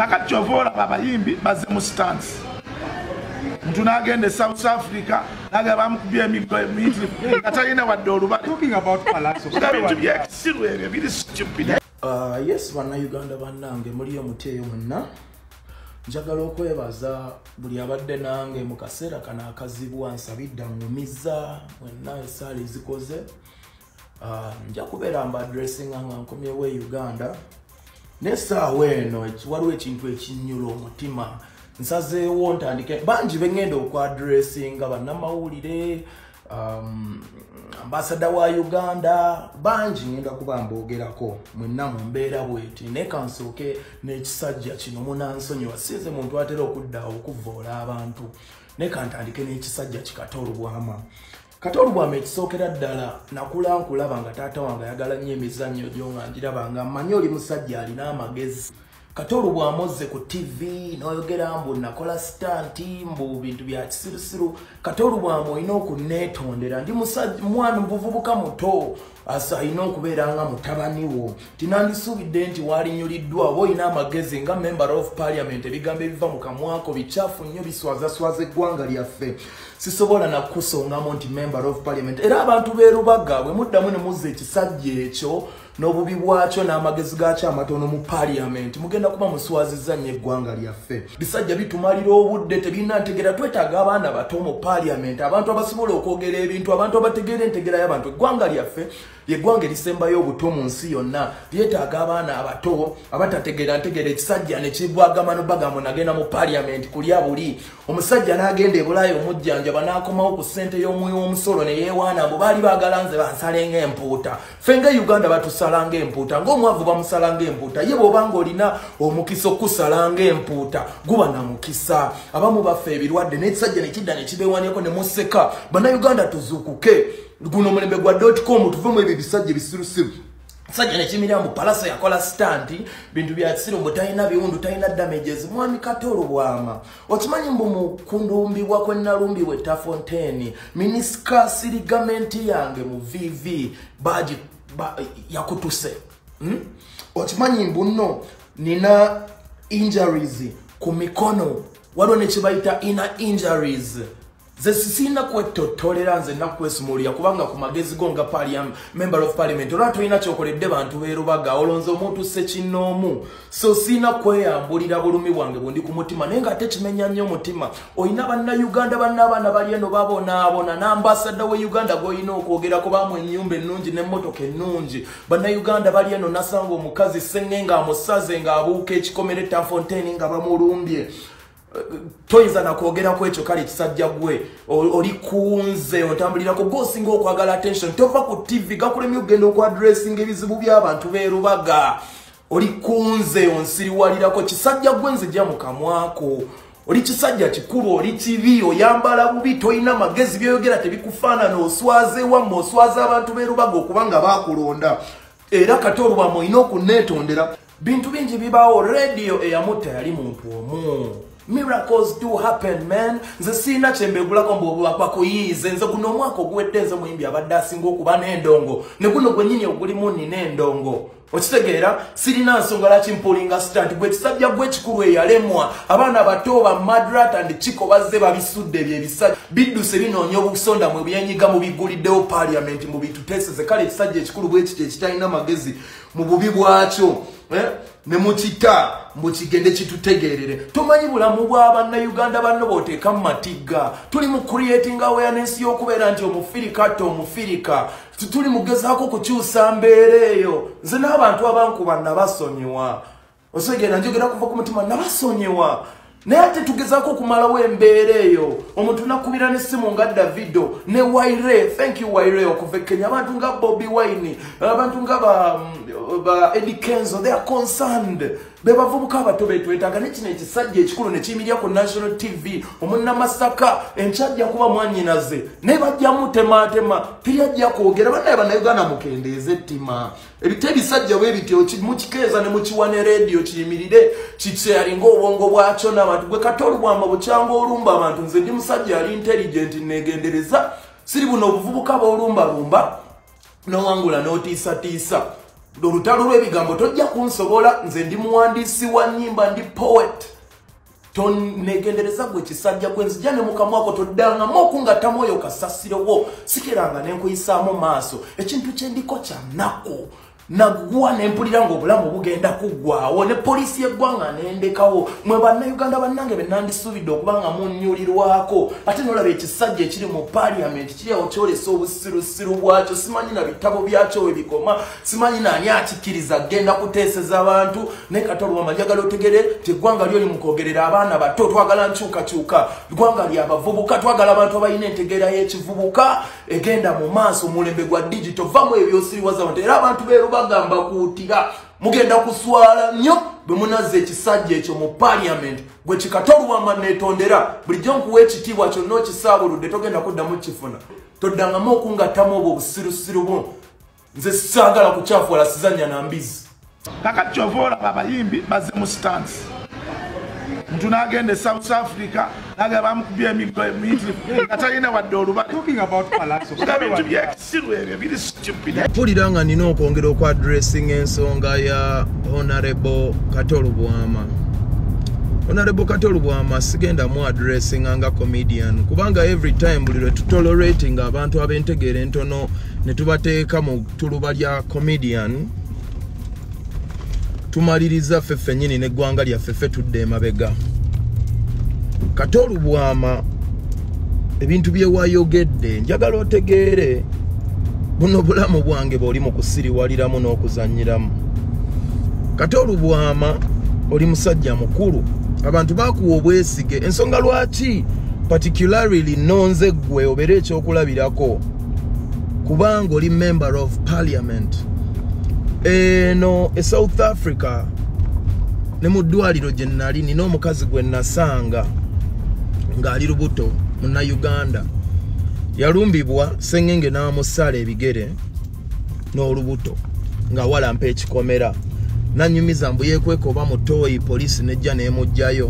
kakati kyova olaba abayimbi bazze mu sitansi muntu nagenda e south africa naga bamukubya emiggo emingi nga talina wadde olubalebintu byekisiru ebyo biri stupid uh, yes bannayuganda bannange muli omuti eyo munna njagala okwebaza buli abadde nange mu kaseera kano akazibwa nsabidda ngumiza mwenna esaala ezikoze Ah, nja kubeera mba adressinga nga nkomyewo e uganda nesaawa eno waliwo ekintu ekinyula omutima nsazeewo ntandike bangi beŋŋenda okuadressinga bannamawulire um, ambasada wa uganda bangi ŋenda kuba mboogerako mwenna mu mbeera bweti naye kansooke n'ekisajja kino munansonyiwa sinze muntu atera okudda okuvvoola abantu naye kantandike n'ekisajja kikata olubwama kati olubwama ekisookera ddala nakula nkulaba nga taata wange ayagala nnyo emizannyo gyo nga ngiraba nga mmanyi oli musajja alina amagezi kati olubwama ozze ku tv n'oyogera mbu nakola sitanti mbu bintu bya kisirusiru kati olubwama olina okunneetondera ndi mwana muvubuka muto as alina okubeera nga mutabani wo tinandisuubidde nti waalinyuliddwa oba olina amagezi nga member of parliament ebigambo ebiva mu kamwako bikyafu nnyo biswazaswaza eggwanga lyaffe sisobola nakukusongamu nti member of parliament era abantu berubaga bwe muddamu ne muzza ekisajja ekyo n'obubi bwakyo n'amagezi gaakyo amatono mu parliament mugenda kuba muswaziza nnyo eggwanga lyaffe bisajja bitumalira obudde tebirina ntegera twetaaga abaana bato mu paliament abantu abasobola okwogera ebintu abantu abategeera entegera y'abantu eggwanga lyaffe yeggwanga erisembayo obuto mu nsi yonna lyetaaga abaana abato abatategeera ntegera ekisajja nekigwagamano bagambo nagenda mu paliament kulya buli omusajja n'agenda ebulayo omujjanjaba n'akomawo ku ssente y'omuwi w'omusolo ne yeewaana mbu baali baagala nze bansalenga empuuta ffe nga uganda batusala nga empuuta ngaomwavu bamusala nga empuuta ye bwoba nga olina omukisa okukusala nga empuuta guba na mukisa abamu baffe ebirwadde nekisajja nekidda nekibewaneko nemuseka banauganda tuzukuke guno omulembe gwa dotcom tuve mu ebyo ebisajja ebisirusiru sajja nekimira mbu palasa yakola stanti bintu byakisiru mbu talina biwundu talina damages mwami katolo bwama okimanyi mbu mu kundumbibwa kwe nalumbibwa etafonteeni minisikaasi ligamenti yange mu vv baagi ba, yakutuse hmm? okimanyi mbu nno nina injuries ku mikono waliwo ne kye bayita ina injuries nze sirina kwettottolera nze nakukwesimuulira kubanga ku magezi go nga member of parliament olwa tolina kyokoledde bantu berubaga olonze omuntu sekinnoomu so sirina kweyambulira bulumi bwange bundi ku mutima naye nga ate kimenya nnyo omutima olina bannauganda banna abaana bali eno babonaabona n'ambasada we uganda gwolina okwogerako bamu ennyumba ennungi n'emmotoka ennungi bannauganda bali eno nasanga omukazi senge ng'amusaze ng'abuuka ekikomere tafonteini nga bamulumbye toyinza nakwogera ku ekyo kale kisajja gwe oli kunze otambulirako gosinga okwagala attention tova ku tv gakulemye okugenda okwadressinga ebizibu byabantu berubaga oli kunze onsiriwalirako kisajja gwe nzija mukamwako oli kisajja kikulu oli kibi oyambala bubi tolina magezi byoyogera tebikufaanana oswaze wamma oswaza abantu berubaga okubanga bakulonda era kati olubama olina okuneetondera bintu bingi bibaawo radio eyamutta yali muntu omu miracles do happen man nze siina kyembegulako mbubakuyiize nze guno omwaka oguwedde nze muyimbi abadde asinga okuba n'endongo ne guno gwenyini ogulimu nina endongo okitegeera sirina nsonga laki mpulinga stant gwe kisajja gwe ekikulu eyalemwa abaana bato ba madrat and kiko bazze babisudde ebyo ebisajja bidduse binoonya obusonda mwe byenyiga mubiguliddewo paliamenti mubituteseze kale ekisajja ekikulu bwekiti ekitalina magezi mu bubi bwakyo eh, ne mukita mbu kigende kitutegeerere tomanyi bulamu bwa bannayuganda banno booteeka mu matigga tuli mu creating awareness y'okubeera nti omufirika tte omufirika tuli mugezaako kukyusa mbeera eyo nze n'abantu abankuba nabasonyiwa osegera njogera kuva ku mutima nabasonyiwa naye ate tugezaako okumalawo embeera eyo omuntu nakubira nesimu nga davido ne waire thank you waire okuva ekenya abantu nga bobi wine abantu nga ba, ba edi kenzo they are concerned bebavubuka abato betwetaaga nekino ekisajja ekikulu nekiyimirira ku national tv omunamasaka enkyajja kuba mwanyinaze naye bajja mutematema teyajja kwogera banaye banauganda mukendeeze ettima ebita ebisajja bwe bityo mukikeeza ne mukiwa ne rediyo kiyimirire kikyalinga obwongo bwakyo n'abantu gwe kata olubwamba bukyanga olumba abantu nze ndi musajja ali intelligent negendereza siri buno obuvubuka b'olumbalumba nowangula n'otiisatiisa olutalo lw'ebigambo tojja kunsobola nze ndi muwandiisi wa nnyimba ndi poet tonegendereza gwe kisajja gwe nzija ne mukamwa gwo toddangamu okungatta mwoyo kasasiro wo sikeranga ne nkuyisaamu maaso ekintu kye ndiko kya nnaku naggwa ne mpulira ng'obulamu bugenda kuggwawo ne poliisi y'eggwanga nendekawo mwe bannayuganda bannange be nandisuubidde okuba nga munnyulirwako ate nolaba ekisajja ekiri mu paaliyamenti kiri awo kyolesa obusirusiru bwakyo simanyi na bitabo byakyo we bikoma simanyi naani akikkiriza genda kuteeseza abantu naye kati olwama njagala otegere nti eggwanga lyoli mukwogerera abaana bato twagala nkyukakyuka ggwanga lyabavubuka twagala abantu abalina entegeera y'ekivubuka egenda mu maaso omulembe gwa digito vamu ebyosiriwaza bantu era abantu beero bagamba kuutira mugenda kuswala nnyo bwe munazza ekisajja ekyo mu paliamenti gwe kikata olwama neetondera bulijjo nkuwa ekitiibwa kyonna okisaabuludde togenda kuddamu kifuna toddangamu okungattamu obwo obusirusiru bwo nze sagala kukyafwala sizanya na mbizi kakati kyova olaba abayimbi bazze mu sitansi muntu nagenda e south africa naga bamukubya emiggo emiyitirivu nga talina wadde olubalebintu byekisiru ebyo biri stupid mpulira nga nina okwongera okwadressing ensonga ya honorable katolubwama honorable katolubwama sigenda mu adressing nga comedian kubanga every time buli lwe tutolerating abantu abentegeera entono ne tubateeka mu tuluba lya comedian tumaliriza ffe ffennyini n'eggwanga lyaffe ffe tudde emabega kate olubwama ebintu byewayogedde njagala otegeere buno bulamu bwange bwoli mu kusiriwaliramu n'okuzanyiramu kate olubwama oli musajja mukulu abantu bakuwa obwesige ensonga lwaki particularly nonze ggwe obeera ekyokulabirako kubanga oli member of parliament eno e south africa ne mu ddwaliro gye nali nina omukazi gwe nasanga ng'ali lubuto muna uganda yalumbibwa sengenge n'amusala ebigere n'olubuto nga walampa ekikomera nanyumiza mbu yekweka oba mutoyi poliisi nejja nemugjayo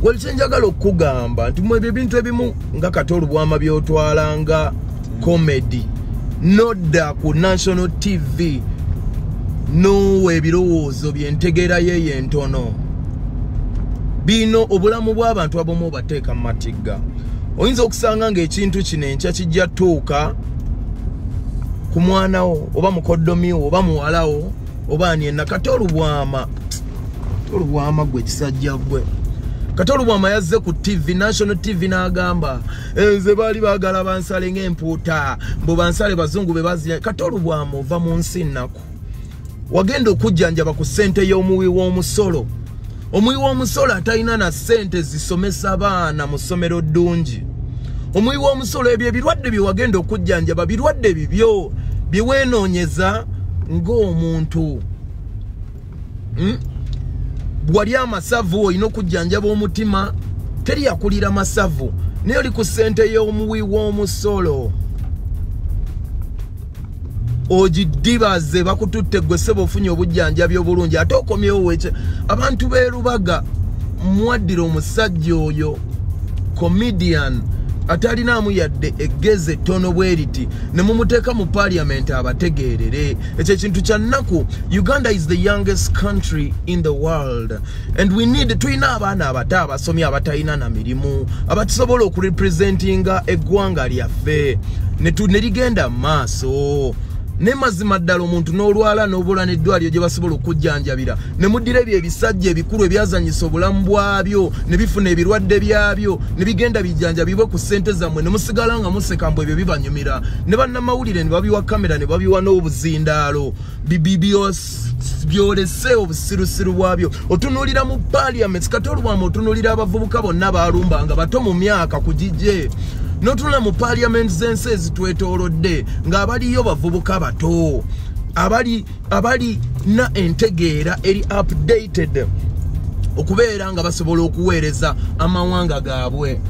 wekyenjagala okukugamba nti mwebyo ebintu ebimu nga kati olubwama byotwala nga comedy nodda ku national tv nowa ebirowoozo byentegeera yeyo entono bino obulamu bw'abantu abamu obateeka mu matigga oyinza okusanga ng'ekintu kino enkya kijja tuuka ku mwanawo oba mukoddomiwo oba muwalawo oba ani enakati olubwama tolubwama gwe kisajja gwe kati olubwama yazze ku tv national tv n'agamba nze baali baagala bansale ng'empuuta mbu bansale bazungu be bazia kati olubwama ova mu nsi nnaku wagenda okujjanjaba ku ssente y'omuwi w'omusolo omuwi w'omusolo atalina na ssente zisomesa baana mu ssomero ddungi omuwi w'omusolo ebyo ebirwadde bye wagenda okujjanjaba birwadde bibyo bye weenoonyeza ng'omuntu hmm? wali amasavu olina okujjanjaba omutima teri yakulira masavu naye oli ku ssente y'omuwi w'omusolo ogidibaze bakututte gwe seba ofunye obujjanjabi obulungi ate okomyewo wekye abantu berubaga mwaddira omusajja oyo comedian atalinaamu yadde eggezi ettono bwe riti ne mumuteeka mu paliamenti abategeerere ekyo ekintu kya nnaku uganda is the youngest country in the world and we need tulina abaana abato abasomye abatalina na mirimu abatusobola okurepresentinga eggwanga lyaffe ne ligenda mu maaso ne mazima ddala omuntu n'olwala n'obula n'eddwaliro gye basobola okujjanjabira ne muddira ebyo ebisajja ebikulu ebyazanyisa obulamu bwabyo ne bifuna ebirwadde byabyo ne bigenda bijjanjabibwe ku ssente zammwe ne musigala nga museka mbu ebyo bibanyumira ne bannamawulire ne babiwa kamera ne babiwa n'obuzindaalo byolese obusirusiru bwabyo otunuulira mu parliament kati olwamu otunuulira abavubuka bonna baalumba nga bato mu myaka ku gigye notunula mu parliament z'ensi ezitwetoolodde ng'abaliyo bavubuka bato abali abalina entegeera eri updated okubeera nga basobola okuweereza amawanga gaabwe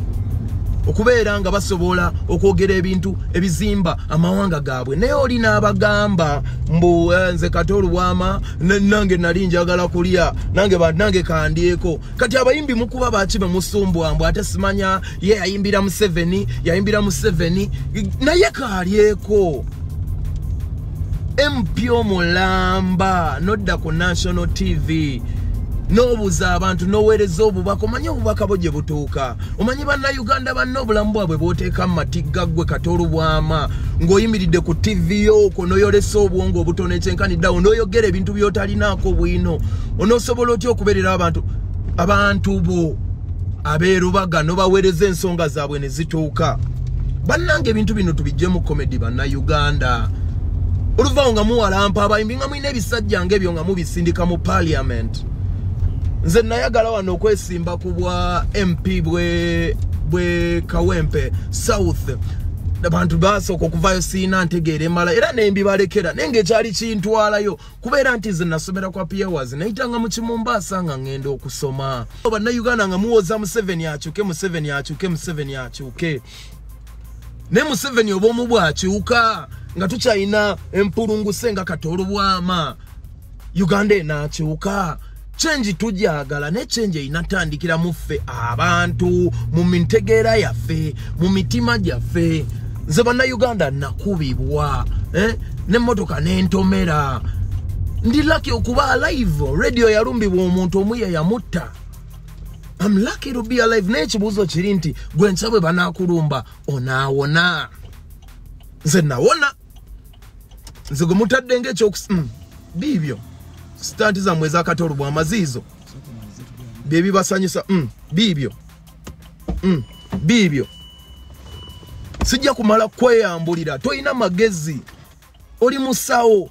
okubeera nga basobola okwogera ebintu ebizimba amawanga gaabwe naye oli n'abagamba mbu eh, nze kati olubwama nange nali njagala kulya nange banange kandyeko kati abayimbi mukuba baki bemusumbwa mbu ate simanya ye yayimbira museveni yayimbira museveni naye kalyeko mp omulamba nodda ku national tv nobuza abantu nowereza obubaka omanyi obubaka bwo gye butuuka omanyi bannayuganda banne obulamu bwabwe bwoteeka mu matigga ggwe kata olubwama ng'oyimiridde ku tivi yooko noyolesa obwongo obutono ekyenkaniddawo noyogera ebintu byotalinaako bwino onosobola otya okubeerera abantu abantu bo abeerubaga nobawereza ensonga zaabwe zituuka bannange ebintu bino tubijjemu comedy banna uganda oluvawo nga muwalampa abayimbi nga mulina ebisajja nga ebyo nga mubisindika mu parliament nze nayagala wano okwesimba ku bwa mp bwe bwe kawempe south abantu basooka okuvayo siina ntegeera emala era nembibalekera naye ngaekyali kintwalayo kubeera nti nze nasomera kwa piewers nayitanga mu kimumbaasa nga ngenda okusoma bannayuganda nga muwoza museveni akyuke museveni akyuke museveni akyuke naye museveni obwomu bwakyuka nga tukyalina empulunguse nga katoolubwama uganda enakyuka change tugyagala ne change erina tandikira mu ffe abantu mu mitegeera yaffe mu mitima gyaffe nze bannayuganda nakubibwa eh? nemmotoka nentomera ndi laki okuba alive radio yalumbibwa omuntu omu yeyamutta am lucky to be alive naye ekibuuzo kiri nti gwe nsa bwe banakulumba onaawona nze nawona nze gwe mutadde ngaekyokus mm, biibyo sitanti zammwe ezakatolo bwa maziizo bye bibasanyusa mm, biibyo mm, biibyo sijja kumala kweyambulira tolina magezi oli musawo